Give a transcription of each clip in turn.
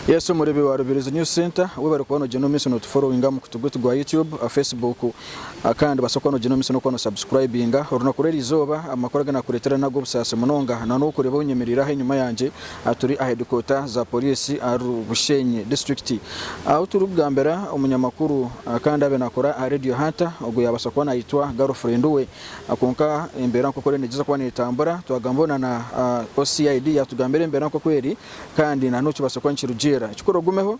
Yesu omureebi wa Rubirizi News Centre ou barikuba noogyenda omu maisho nootuforowinga aha mukutu gwaitu gwa YouTube, aha Facebook kandi noobaasa kuba noogyenda omu maisho n'okuba noosubscribinga. Orunaku rw'eriizooba amakuru agu naakureetera n'ag'obusaasi munonga. Nanobu orikureeba ou nyemereire aha enyima yangye. Turi aha hedikoota za poriisi ahari Bushenyi disiturikiti ahu turikugambira omunyamakuru kandi abe naakora aha Radio Hunter ogwo yaabaasa kuba naayetwa garofurendi we kwonka embeera nk'oku eriyo neegyeza kuba neetambura twagambaho na na OCID yaatugambira embeera nk'oku eri kandi na n'obu kibaasa kuba nikirugiirira ekikuru ogumeho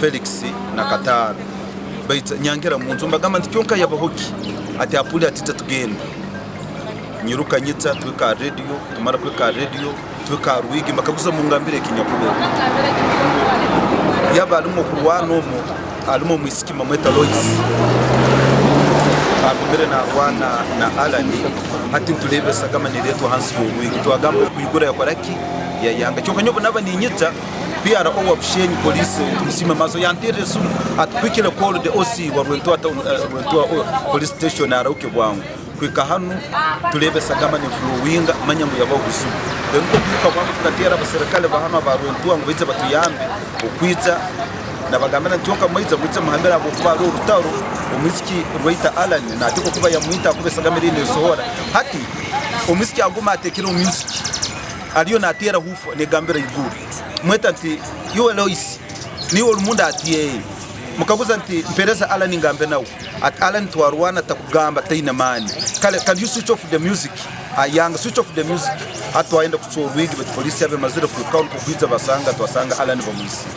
Felix na Kataara baija nyangira munju nibagamba nti kyonka yabaho ki? Ati Apuli ati ija tugenda. Nyiruka nyija tuhika aha radio tumara kuhika aha radio tuhika aha rwigi mbakaguza mungambire eki nyakureeba. Yaba arimu okurwana omu arimu omwisiki bamweta Lois agumire narwana na Allan hati nitureeba esagama nereetwa ahansi y'orwigi twagamba ogu kuhigura yakora ki? Yayanga kyonka nyowe obu naaba ninyija PRO wa Bushenyi Police Tumusiime Maso yanteerire esimu ati kuhikire call the OC wa Rwentoa Town eh, Rwentoa oh, Police Station arahuke bwangu kuhika hanu tureebe esagama neflowinga manya ngu yabaho buzibu then nikwo kwiruka bwangu tukateera abaserikale ba hanu aba Rwentoa ngu baije batuyambe okwija nabagambira nti kyoka mwaija mwije muhambire ahabwokuba hariho orutaro omwisiki Rwaita Allan nateekwa kuba yamwita ahakuba esagama eriyo nesohora hati omwisiki aguma ateekire omu inzigi Ariyo nateera huufa negambira ahaiguru mweta nti, Iwe Loisi, niiwe orimunda? Ati, Yee. Mukaguza nti, Mpereza Allan ngambe nawe. Ati, Allan twarwana takugamba taine maani. Kale can you switch off the music? A young switch off the music. Hati twayenda kucwa orwigi baitu poliisi yaba emazire kuhikaho nikwo kwija basanga twasanga Allan bamwitsire.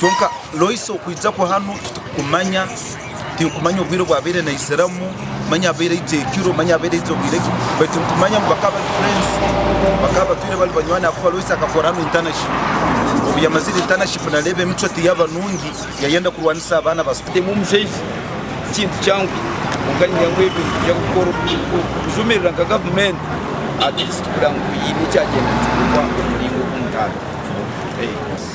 Kwonka Loisi okwija kuhanu titukukumanya. tinkumanya obwire obu abaire naiziramu manya abaire aija ekiro manya abaire aija obwire ki baitu nitumanya ngu bakaba bari friends bakaba batwire bari banywani ahakuba Loyce akakora hanu internship obu yamazire internship nareeba emicwe tiyaba nungi yayenda kurwanisa abaana ba school Kutema omushaiha tikintu kyangu kwonka niinyija ngu ebyo nimbija kukora okujumirira nka gavumenti at least kugira ngu hiine ekyagyenda nikikogwa omu muringo ogu mutaano.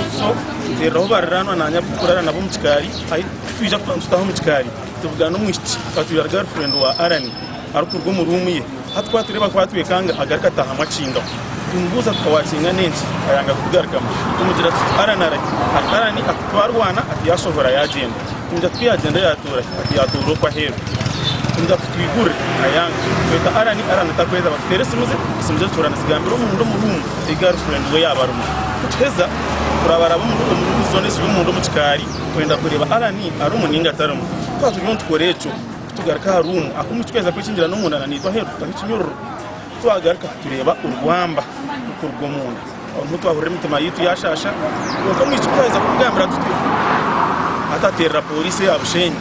Ekiso, Nteereraho bariraanwa naanye abu turikurara nabo omu kikaari. Hati ku twija kuba nitutaha omu kikaari, tubugaana omwishiki katwire girlfriend wa Allan arikuruga omu ruumu ye. Hati ku atureeba ku atwekanga agaruka ataahamu akingaho. Tumubuuza tuta waakingaho enki, ayanga kutugarukamu. Tumugira tuti, Allan ari ki? Hati Allan ati, Twarwana, ati yaashohora yaagenda. Tumugira tuti, Ku yaagenda yaatuura ki? Ati yaatuura okwe aheeru. Tumugira tuti, Twigurire, ayanga. Tweta Allan, Allan atakweta, batuteera esimu ze, esimu ze zituura nizigambira omunda omu ruumu. Ti girlfriend we yaaba arimu. Nituheza kurabaraba omuri zone eziri omunda omu kikaari kwenda kureeba Allan arimu ninga tarimu. Ku twaba turiyo nitukora ekyo, ku tugaruka aha room ak'omu kicweza kwekingira n'omunda na niitwe aheeru tutaho ekinyororo. Ku twagaruka tureeba orwamba rukuruga omunda. Aho niho twahurira emitima yaitu yashaasha kwonka omwishiki twaheza kumugambira tutyo atateerera Poliisi eya Bushenyi.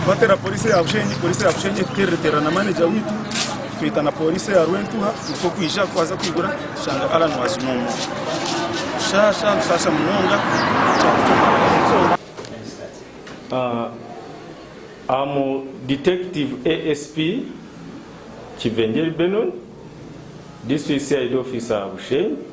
Twateerera Poliisi eya Bushenyi, Poliisi eya Bushenyi etuteererateerera na manager waitu. Tweta na pooriisi eya Rwentuha nikwo kwija kwaza kwigura tushanga Allan Wazimu omwo. Tushaasha bushaasha munonga twatungwa Am Detective ASP Kivengeri Benon, District CID Officer Bushenyi.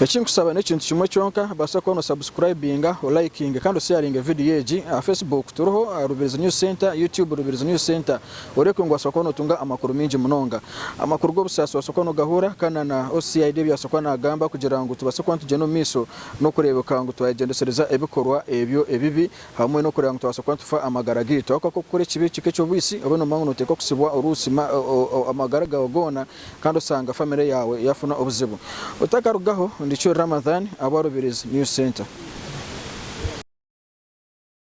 Ekinkusaba nekintu kimwe kyonka baasa kubona osubscribinga, olayikinge kandi osheyaringe video egi aha Facebook turiho Rubirizi News Centre, YouTube Rubirizi News Centre oreebke ngu waasa kuba notunga amakuru mingi munonga. Amakuru g'obusaasi waasa kuba nogahuura kandi na OCID ebi yaasa kuba nagamba kugira ngu tubaase kuba nitugyenda omu maisho nokureebeka ngu twayegyendesereza ebikorwa ebyo ebibi hamwe nokureeba ngu twabaasa kuba nitufa amagara gaitu. Ahakuba ku okukora ekibi kika ekyobwisi obe nomanya ngu noteekwa kusibwa oruusi amagara gaawe goona kandi osanga famire yaawe yaafuna obuzibu. Otakarugaho, Ndichuri Ramadhan, Abwarubirizi News Centre.